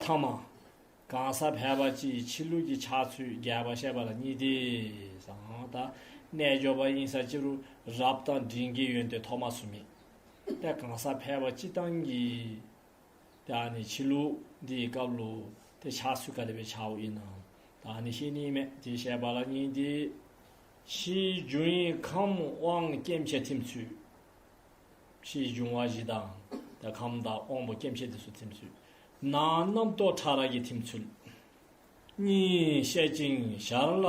ཐང་མ། གང་ཟག་ཕལ་པ་སྤྱི་ཡི་འཆི་བསླུ་གྱི་ཆགས་ཚུལ་རྒྱས་པར་བཤད་པ་ལ་གཉིས་ཏེ། གསང་བ། རྣལ་འབྱོར་པ་དབྱིངས་ས་ཅི་རུ་རབ་དང་འབྲིང་དགེ་ཡོན་ཏེ་ཐོག་མ་སུ་མེད་པས་གང་ཟག་ཕལ་པ་སྤྱི་བཏང་གི། དེ་ནི་འཆི་བསླུ་འདིའི་སྐབས་བསླུ་སྟེ་ཆགས་ཚུལ་ག་ལས་པའི་ཆའོ་ཡིན་ནམ། ད་ནི་ཤེས་ནི་མེད་ཅེས་བཤད་པ་ལ་གཉིས་ཏེ། ཕྱིའི་རྒྱུ་ཡིན་ཁམས་དབང་སྐྱེ་མཆེད་ཐིམ་ཚུལ། ཕྱིའི་འབྱུང་བ་བཞི་དང། ཁམས་དང་དབང་པོ་སྐྱེ་མཆེད་དེ་སུ་ཐིམ་ཚུལ། ན་རྣམ་རྟོག་ཕྲ་རགས་ཀྱི་ཐིམ་ཚུལ་གཉིས་བཤད་ཅིང་ཞར་ལ་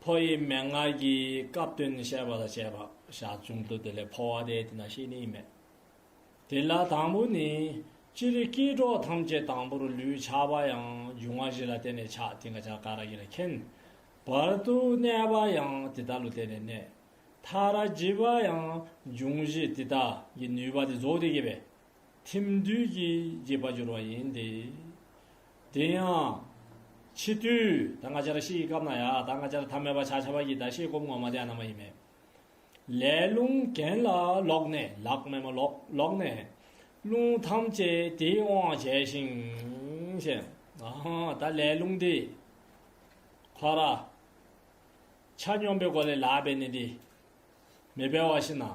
ཕོ་ཡི་མན་ངག་གིས་སྐབས་དོན་བཤད་པ་དང་བཅས་པ་ཞག་བཅུང་དུ་དེ་ལས་འཕོ་བ་དེ་དེ་ན་ཤེས་ནི་མེད་དེ་ལ་དང་པོ་ནི། སྤྱིར་སྐྱེས་གྲོགས་ཐམས་ཅད་དང་པོར་ལུས་ཆགས་པ་ཡང་འབྱུང་བ་བཞི་ལ་བརྟེན་ནས་ཆགས་དེ་འགའ་ཆགས་འགའ་ར་གི་ར་མཁན་བར་དུ་གནས་པ་ཡང་དེ་ལྟར་ལུས་བརྟེན་ནས་གནས་མཐའ་ར་བརྗིད་པ་ཡང་འབྱུང་བཞི་དེ་དག་གི་ནུས་པ་དེ་རྫོགས་དེ་སྐྱེས་པའི་ཐིམ་དུས་ཀྱི་རྒྱས་པ་སྦྱོར་བ་ཡིན་ཏེ། དེ་ཡང། ཕྱི་དུས་ད་སྔ་འཆར་གཞི་ཡི་སྐབས་ན་ཡང་ད་སྔ་འཆར་ཐ་མལ་པ་ཕྱག་བྱ་བ་ཡི་ད་ཤེས་སྒོམ་ངོ་མ་བརྟན་ན་མ་ཡིན་མེད། ལས་རླུང་གྱེན་ལ་ལོག་ནས་ལག་སྨེ་མ་ལོག་ལོག་ནས། རླུང་ཐམས་ཅད་དེའི་དབང་བྱས་ཤིང། ད་ལས་རླུང་དེ། འཕགས་ར། ཆ་སྙོམས་པའི་སྒོ་ལས་ལག་པས་ནི་དེ། མི་འཕེལ་བ་བཞིན་ནམ།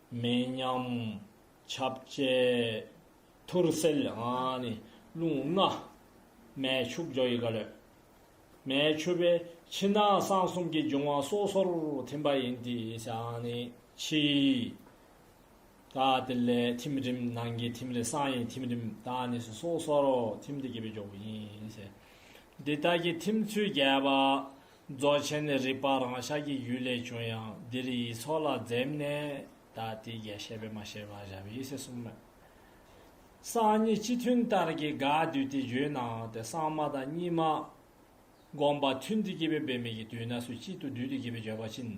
མེ་མཉམ། ཆབ་བཅས། ཐུར་སེལ། རླུང་ལྔ། མེ་ཕྱུགས་ཇོ་ཡི་ག་ལོད། མེ་མཆོད་པས་ཕྱི་ནང་གསང་གསུམ་གྱི་འབྱུང་བ་སོ་སོར་ཐིམ་པ་ཡིན་ཏེ། ཕྱི། ཀ་ཏི་ལའི་ཐིམ་རིམ་ནང་གི་ཐིམ་རེ་གསང་ཡི་ཐིམ་རིམ་དང་ནི་སོ་སོར་ཐིམ་སྟེ་བསྐྱེད་པའི་ཇོ་བོ་ཡིན། འདི་དག་གི་ཐིམ་ཚུལ་རྒྱས་པ། རྫོགས་ཆེན་ནི་རིག་པ་རང་ཤར་གྱི་ཡུལ་ལས་བྱུང་ཡང་འདིར་ཡིག་ཚོགས་ལ་འཛེམ་ནས་ད་ལྟའི་རྒྱ་བཤད་པས་མ་བཤད་པར་བཞག་པའི་ཡེ་ཤེས་གསུམ་མོད། སངས་གཉིས་སྤྱི་མཐུན་ལྟར་གྱི་དགག་བསྡུས་དེ་བརྗོད་ནའང་དེ་སངས་མ་དང་གཉིས་མ། བསྒོམ་པ་མཐུན་དུ་སྐྱེས་པའི་འབད་མེད་ཀྱི་དུས་ན་སུ་གཅིག་ཏུ་བསྡུས་ཏེ་སྐྱེས་པའི་བརྗོད་པ་ཕྱིན།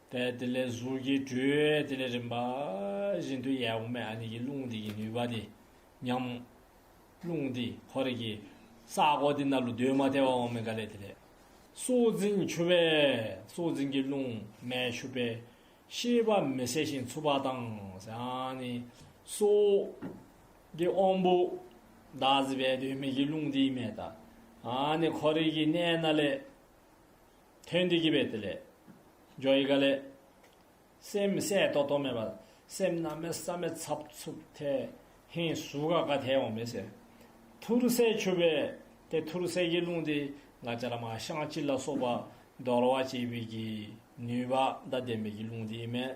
པས་དེ་ལས་གཟུགས་ཀྱི་འགྲོས་དེ་ལས་རིམ་པ་བཞིན་དུ་ཡལ་འོང་བའི་ཨ་ནི་ཀྱི་རླུང་དེ་ཡི་ནུས་པ་དེ་མཉམ་མོ། རླུང་དེ་འཁོར་རིགས་ཀྱི་ས་གོ་དེ་རྣམས་ལ་འདུས་མ་བརྟས་པ་འོང་བའི་འགའ་ལས་དེ་ལས་སྲོག་འཛིན་འཆུ་བས་སྲོག་འཛིན་གྱི་རླུང་མེ་ཆུ་པའི་ཤེས་པ་མི་གསལ་ཞིང་འཚུབ་པ་དང་ཨ་ནི་སྲོག་གི་དབང་པོ་བདག་གཟི་པས་དུས་མེད་ཀྱི་རླུང་དེ་ཡི་མེ་དང་ཨ་ནི་འཁོར་རིགས་ཀྱི་གནས་ན་ལས། དོན་འདི་སྐྱེས་པས་དེ་ལས། ཇོ་ཡི་ག་ལས། སེམས་མི་ཟད་རྟོག་རྟོག་མེད་པ། སེམས་རྣམ་མེད་བསམ་མེད་ཚབ་ཚུབ་ཐལ། ཧེ་སུ་ག་ག་དེ་འོང་མི་ཟེར། ཐུར་གསལ་ཆུ་བེ། དེ་ཐུར་གསལ་གྱི་རླུང་དེ་ང་རྒྱ་ལ་མ་ཤངས་སྤྱི་ལ་སོགས་པ། འདོར་བ་བྱེད་པའི་གྱི་ནུས་པ་མདའ་ལྡན་པའི་གྱི་རླུང་དེ་ཡིན་མོད།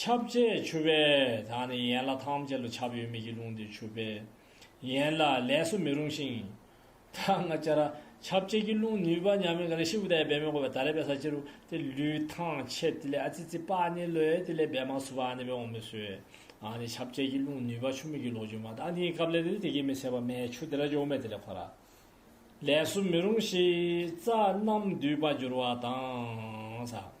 ཁྱབ་བྱེད་ཆུ་བེ་དག་ནི་ཡན་ལག་ཐམས་ཅད་ལ་ཁྱབ་ཡོད་མེད་ཀྱི་རླུང་དེ་ཆུ་བེ་ཡན་ལག་ལས་སུ་མི་རུང་ཞིང། ད་སྔ་ཅི་ར་ཁྱབ་བྱེད་ཀྱི་རླུང་ནུས་པ་མྱ་མི་ག་རེ་ཤི་བུ་དའི་བེ་མི་གོ་བའི་ད་རེ་བེ་ས་ཅི་རུ་ཏེ་ལུས་ཐང་ཆད་ཏི་ལེ་ཨ་ཙི་ཙི་པ་ནི་ལོ་ཡེ་ཏི་ལེ་བེ་མ་སུ་བ་ནི་བེ་འོང་མི་སུ་ཨེ་ཨ་ནི་ཁྱབ་བྱེད་ཀྱི་རླུང་ནུས་པ་ཆུ་མིག་གི་ལོག་འཇུག་མ་དང་ནི་ཀབ་ལེ་ལེ་ལི་ཏི་ཀི་མི་ཚད་པ་མའི་ཆུ་དེ་ར་འཇོག་མེ་ཏི་ལེ་ཁོ་ར་ལས་སུ་མི་རུང་ཞིག་རྩ་རྣམས་འདུས་པ་འགྱུར་བ་དང།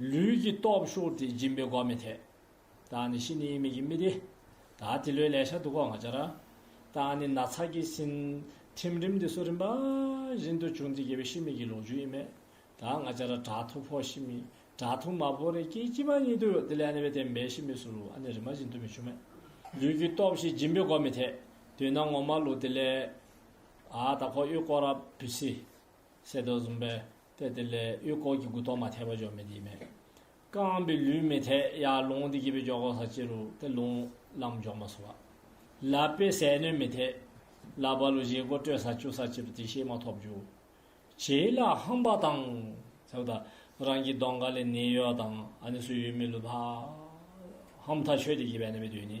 ལུས་ཀྱི་སྟོབས་ཤུགས་དེ་སྦྱིན་པའི་སྒོ་མི་འཐད། བདག་ནི་ཤི་ནི་མི་ཀྱི་མི་དེ། ད་དེ་ལོའི་ལས་ཤ་དུག་གོ་ང་སྦྱར། བདག་ནི་ན་ཚ་ཀྱི་སྲིན། ཐིམ་རིམ་དེ་སོ་རིམ་པ། བཞིན་དུ་བྱུང་སྟེ་རྒྱལ་བའི་ཤི་མི་ཀྱི་ལོ་རྒྱུས་ཡིན། མེད་དག་ང་སྦྱར་དགྲ་ཐུ་ཕོ་ཤི་མི། དགྲ་ཐུ་མ་ཕོ་རེ་ཀྱི་དཀྱིལ་པ་ཉིད་དུ་དེ་ལས་ནི་བས་དེ་འབའ་ཤི་མི་སུ་རུ་ཨ་ནི་རི་མ་བཞིན་དུ་མི་བྱུང་མེད། ལུས་ཀྱི་སྟོབས་ཞེས་སྦྱིན་པའི་སྒོ་མི་འཐད། དུས་ན་ངོ་མ་ལུག་དེ་ལས། ཨ་ད་ཁོ་གཡོས་ཀོ་ར་བུ་སི། གསེར་ཏོག་འཛུམ་པའི་ལྟས་དེ་ལས་གཡུ་སྐོར་གྱི་གུ་དོག་མ་ཐལ་བ་འཇོག་མི་དེ་མེད། རྐང་པའི་ལུས་མི་ཐལ་ཡ་ལུང་དེ་གྱེས་པའི་འཇོག་གོ་ས་ཅི་རུ་དེ་ལུང་ལམ་འཇོག་མ་སོ་བ། ལ་པའི་ཟས་སྣོད་མི་ཐལ། ལ་པ་ལུ་བཞེས་གོ་སྤྲོད་ས་བཅུ་ས་ཅི་རུ་དེ་ཤེས་མ་ཐོབ་འཇུག། བྱེ་ལ་ཧམ་པ་དང། ཟེར་བ་དང། རང་གི་གདོང་ག་ལས་ནད་ཡོད་དང་ཨ་ནི་སུ་ཡོད་མི་ལུས་པ། ཧམ་ཐ་ཆོད་དེ་གྱེས་པའི་ནད་པའི་དུས་ནི།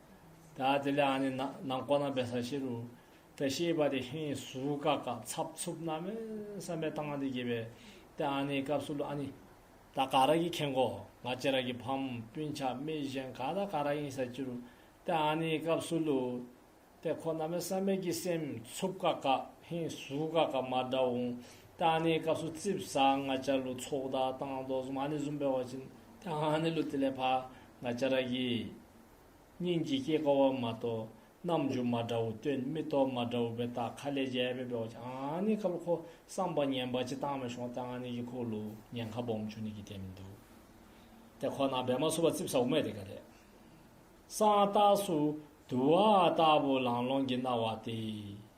ད་དེ་ལས་ཨ་ནི་ན་ན་མགོ་ན་བས་ས་ཤེ་རུ། ད་ཤེས་པ་དེ་ཧེ་སུ་ཀ་ཀ་ཚབ་ཚུབ་ན་མེ་བསམ་པའི་གཏང་དེ་དགྱེས་པའི་དེ་ཨ་ནི་སྐབས་སུ་ལུ་ཨ་ནི། ད་ག་ར་གི་ཁེན་གོ་ང་ལྕེ་ར་གི་ཕམ་སྤུན་ཆ་མེ་གཞན་ག་ད་ག་ར་ཡིན་ས་ཅི་རུ། དེ་ཨ་ནི་སྐབས་སུ་ལུ། དེ་ཁོ་ན་མེ་བསམ་པའི་དགྱེས་སེམས་ཚུབ་ཀ་ཀ་ཧེ་སུ་ཀ་ཀ་མ་འདྲ་འོང། དེ་ཨ་ནི་སྐབས་སུ་ཙིབ་ས་ང་ལྕེ་ར་ལུ་ཚོགས་ད་གཏང་དོ་ཟུམ་ཨ་ནི་ཟུམ་པའི་བ་ཅིན་དེ་ཨ་ནི་ལུ་དེ་ལས་ཕ་ང་ལྕེ་ར་གི། སྙིང་རྗེ་སྐྱེ་དཀའ་བ་མ་གཏོགས་རྣམ་འགྱུར་མ་འདྲ་བོ་སྟོན་མི་ཐོག་མ་འདྲ་བོ་བའི་རྟགས་ཁ་ལས་རྒྱལ་བས་པའོ་ཅི་ཨང་ནི་ཁ་ལོ་ཁོ་བསམ་པ་ངན་པ་ཅི་བཏང་བའི་ཤོག་ལྟ་ཨང་ནི་ཡི་ཁོ་ལོ་ཉན་ཁ་སྦོམ་ཆུ་ནི་གི་དེ་མི་འདུག་དེ་ཁོ་ན་བས་མ་སུ་བ་རྩིབ་ས་འོ་མས་དེ་ག་རེད། སང་རྟགས་སུ་དུ་བ་ལྟ་བུ་ལང་ལོང་གི་རྣ་བ་སྟེ།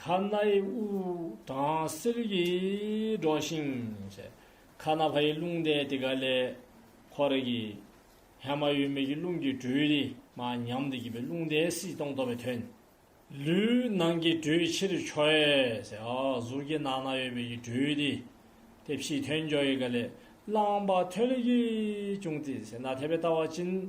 ཁ་སྣའི་དབུགས་གྲང་བསིལ་གྱིས་སྒྲོགས་ཤིང། ཁ་སྣ་བྷ་ཡི་རླུང་དེ་དེ་ག་ལས། ཁོ་རེ་གི། ཧད་མ་ཡོད་མེད་ཀྱི་རླུང་གི་འགྲོས་རིས་མ་ཉམས་དུ་བགྱིས་པའི་རླུང་དེ་སྲིད་སྟོང་རྟོགས་པའི་དོན། ལུས་ནང་གི་འགྲོས་ཕྱིར་འཕྱོ། གཟུགས་ཀྱི་ནང་ན་ཡོད་པའི་ཀྱི་འགྲོས་རིས། དེ་ཕྱིའི་དོན་འཇོག་ཡི་ག་ལས། བླངས་པ་ཐོན་ལས་ཀྱིས་བྱུང་སྟེ། ན་ཐེ་བའི་ལྟ་བ་བཅིངས།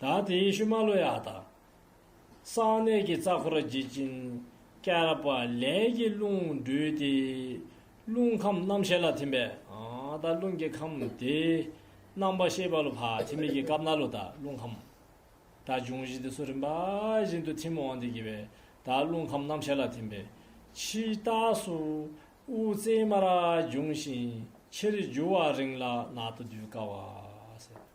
ད་དེ་ཡེ་ཤུ་མ་ལོ་ཡཱ་དང། གསང་གནས་ཀྱི་རྩ་འཁོར་རྗེ་སྤྱིན་སྐྱར་པ་ལས་ཀྱི་རླུང་སྦྲུལ་ཏེ། རླུང་ཁམས་རྣམ་ཤེས་ལ་ཐིམ་པས་ད་རླུང་གི་ཁམས་ཏེ། རྣམ་པར་ཤེས་པ་ལོ་བྷ་དྷི་མིག་གི་སྐབས་ན་ལོ་ད་རླུང་ཁམས། ད་འབྱུང་བཞི་སྟེ་སོ་རིམ་པ་བཞིན་དུ་ཐིམ་འོང་སྟེ་དགེ་བས་ད་རླུང་ཁམས་རྣམ་ཤེས་ལ་ཐིམ་པས། ཕྱིའི་རྟགས་སུ་དབུ་རྩེའི་མ་ར་འབྱུང་ཞིང་ཕྱིར་རྒྱུ་བ་རིང་ལ་ནག་ཏུ་སྡུད་དཀའ་བ།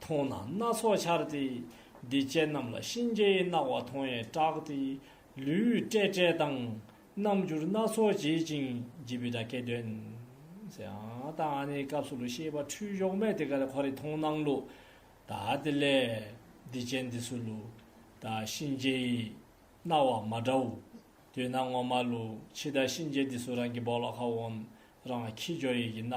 མཐོང་ན་སྣ་ཚོགས་འཆར་ཏེ། འདི་སྐྱེས་རྣམས་ལ་གཤིན་རྗེའི་རྣ་བ་མཐོང་ཡས་སྐྲག་སྟེ། ལུས་བཀྲེས་བཀྲེས་དང། རྣམ་འགྱུར་སྣ་ཚོགས་བྱེད་ཅིང་བགྱིད་པའི་སྒྲ་སྐད་འདོན། དང། སྐབས་སུ་ལུས་ཤེས་པ་འཁྲུལ་གཞོག་མེད་དེ་གར་འཁོར་རིག་མཐོང་སྣང་ལུ། དང་དེ་ལས། འདི་སྐྱེས་འདི་སུ་ལུ། དང་གཤིན་རྗེའི། རྣ་བ་མ་འདྲ་བུ། དུས་ན་ངོ་མ་ལུ། ཕྱི་ལྟར་གཤིན་རྗེ་འདི་སུ་རང་གི་བོགས་ལ་ཁ་བོན། རང་ཁྱི་ཇོ་ཡིག་གི་རྣ་བ།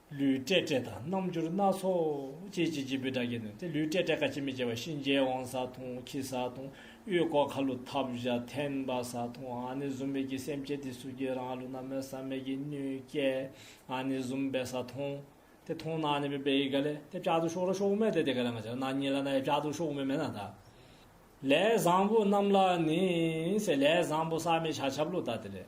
ལུས་སྤྲད་སྤྲད་དང་རྣམ་འགྱུར་སྣ་ཚོགས་ཅི་བྱེད་ཅི་ཕུད་དགྲ་བགེགས་ནོན་ཏེ་ལུས་སྤྲད་སྤྲད་ཁ་ཅིག་མི་བྱེད་པར་གཤིན་རྗེའི་དབང་ས་ཐུང་ཁྱི་ས་ཐུང་དབུས་ཀོ་ཁ་ལུ་ཐབ་བཞག་ཐེན་པ་ས་ཐུང་ཨ་ནི་གཟུམ་མེད་ཀྱི་སེམས་བསྐྱེད་དེ་སུ་ཀྱི་རང་ལུས་རྣམས་མེ་བསམ་མེད་ཀྱི་སྣོད་བསྐྱེད་ཨ་ནི་གཟུམ་སྦས་ས་ཐུང། དེ་ཐུང་ན་ཨ་ནི་མེ་སྦས་ཡི་ག་ལས་དེ་བྱ་དུ་ཤོག་རོ་ཤོག་མེད་དེ་དེ་ག་ལ་ང་བྱ་ན་ཉིད་ལ་ན་ཡ་བྱ་དུ་ཤོག་མེད་མེད་ན་ད། ལས་བཟང་པོ་རྣམས་ལ་ནི། ལས་བཟང་པོ་བསམ་མེད་བྱ་ཆབ་ལོ་ད་དེ་ལས།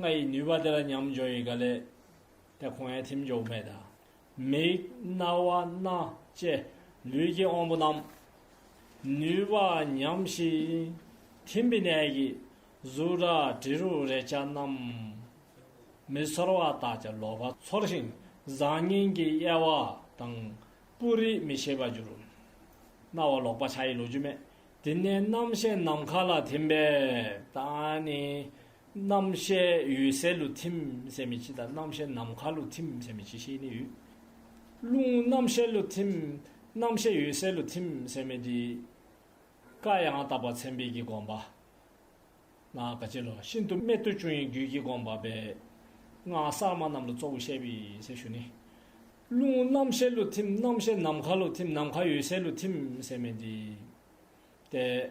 ང་ཡི་ནུས་པ་དེ་ལ་མཉམ་སྦྱོར་ཡི་ག་ལས། དེ་ཁོང་ཡང་ཐིམ་འཇོག་མེད། མིག། རྣ་བ། སྣ། ལྕེ། ལུས་ཀྱི་དབང་པོ་རྣམས། ནུས་པ་ཉམས་ཤིང། ཐིམ་པའི་གནད་ཀྱིས། གཟུགས་སྒྲ་དྲི་རོ་རེག་བྱ་རྣམས། མི་ཚོར་བ་དག་ཀྱང་ལོག་པར་ཚོར་ཞིང་བཟང་ངན་གྱི་དབྱེ་བ་དང། སྤུ་རིས་མི་ཤེས་པར་འགྱུར། རྣ་བ་ལོག་པ་ཆ་ཡི་ལོ་རྒྱུས་མེད། དེ་ནས་རྣམ་ཤེས་ནམ་མཁའ་ལ་ཐིམ་པས། ད་ནི། རྣམ་ཤེས་ཡུལ་གསལ་ལུས་ཐིམ་སེམས་མི་སྐྱིད་དང་རྣམ་ཤེས་ནམ་མཁའ་ལུས་ཐིམ་སེམས་མི་སྐྱིད་ཤེས་ནི་ཡོད། རླུང་རྣམ་ཤེས་ལུས་ཐིམ། རྣམ་ཤེས་ཡུལ་གསལ་ལུས་ཐིམ་སེམས་མི་སྐྱིད། བཀའ་ཡང་དག་པར་མཚན་དཔེ་གྱིས་དགོངས་པ། ན་ག་ཅི་ལོ་ཤིན་ཏུ་རྨད་དུ་བྱུང་ཡིན་རྒྱུད་ཀྱི་དགོངས་པ་པའི། སྔགས་གསར་མ་རྣམས་ལ་གཙོ་བོ་བཤད་པའི་སྲས་ཞུ་ནི། རླུང་རྣམ་ཤེས་ལུས་ཐིམ་རྣམ་ཤེས་ནམ་མཁའ་ལུས་ཐིམ་ནམ་མཁའ་ཡུལ་གསལ་ལུས་ཐིམ་སེམས་མི་སྐྱིད། ཏེ།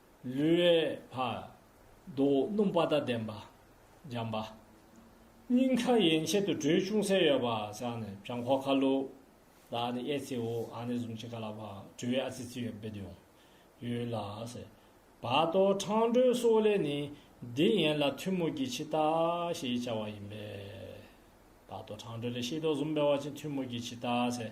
ལུས་འོད་འཕར། མདོག་སྣུམ་པ་དང་ལྡན་པ། འཇམ་པ། སྙིང་ཁ་ཡན་ཆད་དུ་དྲོད་ཅུང་ཟད་ཡོད་པ་བཞག་ནས་བྱང་ཁོག་ཁ་ལུ། ལག་ནི་གཡས་ཚེའུ་ཨ་ནི་གཟུང་བྱེད་ཀ་ལ་བ་དྲོད་ཨ་ཚི་ཚི་ཡོད་པའི་དོན། ཡོད་ལ། བ་དོག་ཁྲང་དྲོད་སོགས་ལས་ནི་འདི་ཡན་ལ་ཐུན་མོང་གི་འཆི་བདག་ཞེས་བྱ་བ་ཡིན་པས། བ་དོག་ཁྲང་དྲོད་ལས་ཤེས་རྟོག་གཟུང་བས་བ་ཅན་ཐུན་མོང་གི་འཆི་བདག།